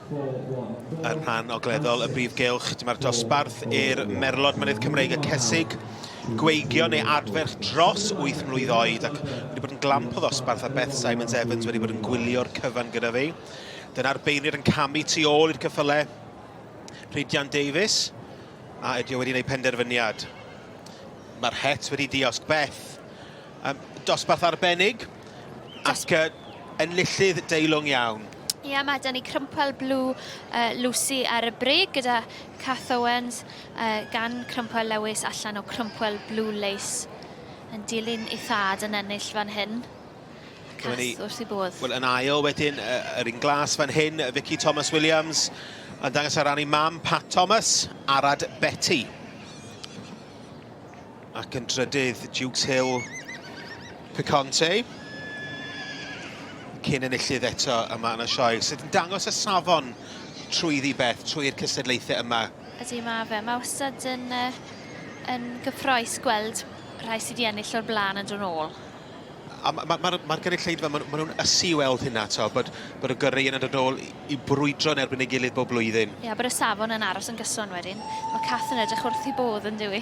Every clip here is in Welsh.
Yn rhan ogleddol y brif gylch, dyma'r dosbarth i'r merlod mynydd Cymreig y Cesig gweigion ei adferch dros 8 mlwydd oed ac wedi bod yn glamp o ddosbarth a Beth Simons Evans wedi bod yn gwylio'r cyfan gyda fi. Dyna'r beirniad yn camu tu ôl i'r cyffyle Rhydian Davies a ydy o wedi gwneud penderfyniad. Mae'r het wedi diosg Beth. Um, dosbarth arbennig ac uh, enillydd deilwng iawn. Ie, yeah, mae Danny Crumpwell Blue uh, Lucy ar y brig gyda Cath Owens uh, gan Crumpwell Lewis allan o Crumpwell Blue Lace yn dilyn ei thad yn ennill fan hyn. Cas ni, wrth i bodd. Wel, yn ail wedyn, yr un glas fan hyn, Vicky Thomas Williams, yn dangos ar ran ei mam, Pat Thomas, Arad Betty. Ac yn drydydd, Jukes Hill, Picante. Cyn enillydd eto yma yn y sioe, sydd yn dangos y safon trwy ddi beth, trwy'r cystadlaethau yma. Ydy, mae fe. Mae wastad yn, uh, yn gyffroes gweld rhai sydd wedi ennill o'r blaen yn dod ôl. A mae'r ma, ma, ma gynulleidfa, maen ma nhw'n ysu i weld hynna, to, bod, bod y gyrru yn dod ôl i brwydro yn erbyn ei gilydd bob blwyddyn. Ie, yeah, bod y safon yn aros yn gyson wedyn. Mae Kath yn edrych wrth i bodd yn dywi.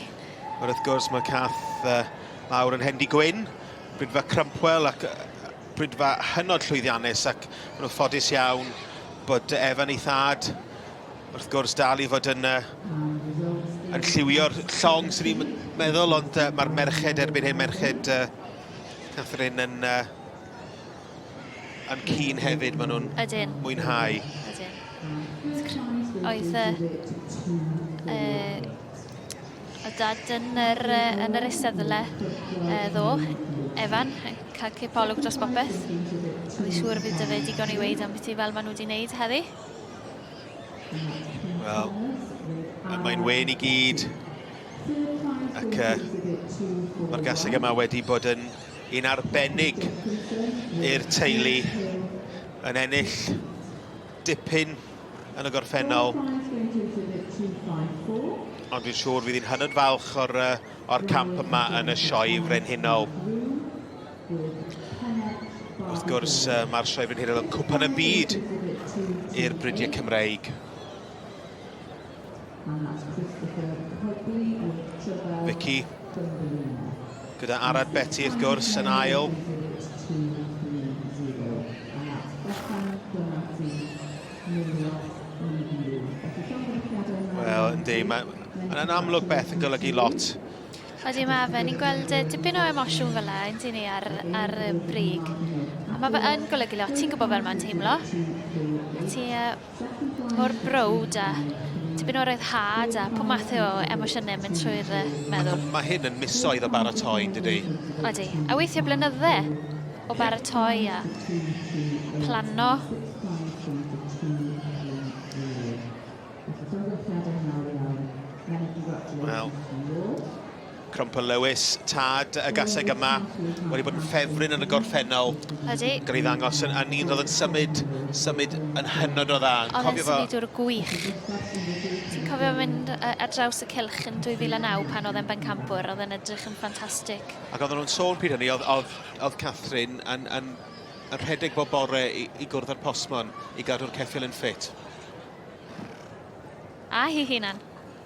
Ond wrth gwrs mae cath uh, mawr yn Hendy Gwyn, brydfa Crumpwell ac uh, brydfa hynod llwyddiannus ac maen nhw'n ffodus iawn bod Evan ei thad wrth gwrs dal i fod yn, uh, yn lliwio'r llong sy'n ni'n meddwl ond uh, mae'r merched erbyn hyn, merched uh, Catherine yn uh, yn cyn hefyd, maen nhw'n Ydyn. mwynhau. Ydyn. Oedd y... Uh, o dad yn yr, uh, yn yr eisteddle uh, ddo, Evan, yn cael cipolwg dros bopeth. Mae'n siŵr bydd dyfu digon i weid am beth i fel maen nhw wedi wneud heddi. Wel, mae'n wen i gyd ac uh, mae'r gaseg yma wedi bod yn yn arbennig i'r teulu yn ennill dipyn yn y gorffennol. Ond dwi'n siŵr fydd hi'n hynod falch o'r, or camp yma yn y Sioe Frenhinol. Wrth gwrs, mae'r Sioe Frenhinol yn cwpan y byd i'r bridiau Cymreig. Vicky. Gyda Arad Betty, wrth gwrs, yn ail. Wel, yndi, mae'n amlwg beth yn golygu lot. Ydy, mae fe. Ni'n gweld dipyn o emosiwn fel yna, yndyn ni, ar, ar y brig. A mae fe yn golygu lot. Ti'n gwybod fel mae'n teimlo. A ti uh, mor browd a tipyn o ryddhad a pob math o emosiynau yn mynd trwy dy meddwl. Mae hyn yn misoedd o baratoi, yn dydy? Odi, a weithiau blynydde o baratoi a planno. Wel, Crumpler Lewis, tad y gaseg yma, wedi bod yn ffefryn yn y gorffennol. Ydy. Gan ei ddangos yn, yn un roedd yn symud, symud yn hynod o dda. Oedd e'n symudwr fo... gwych. Ti'n cofio mynd uh, ar draws y cilch yn 2009 pan oedd e'n bencampwr, oedd e'n edrych yn ffantastig. Ac oedden nhw'n sôn pryd hynny, oedd, oedd, oedd Catherine yn, yn, yn rhedeg bob bore i, i gwrdd â'r postmon i gadw'r ceffil yn ffit. A hi hunan.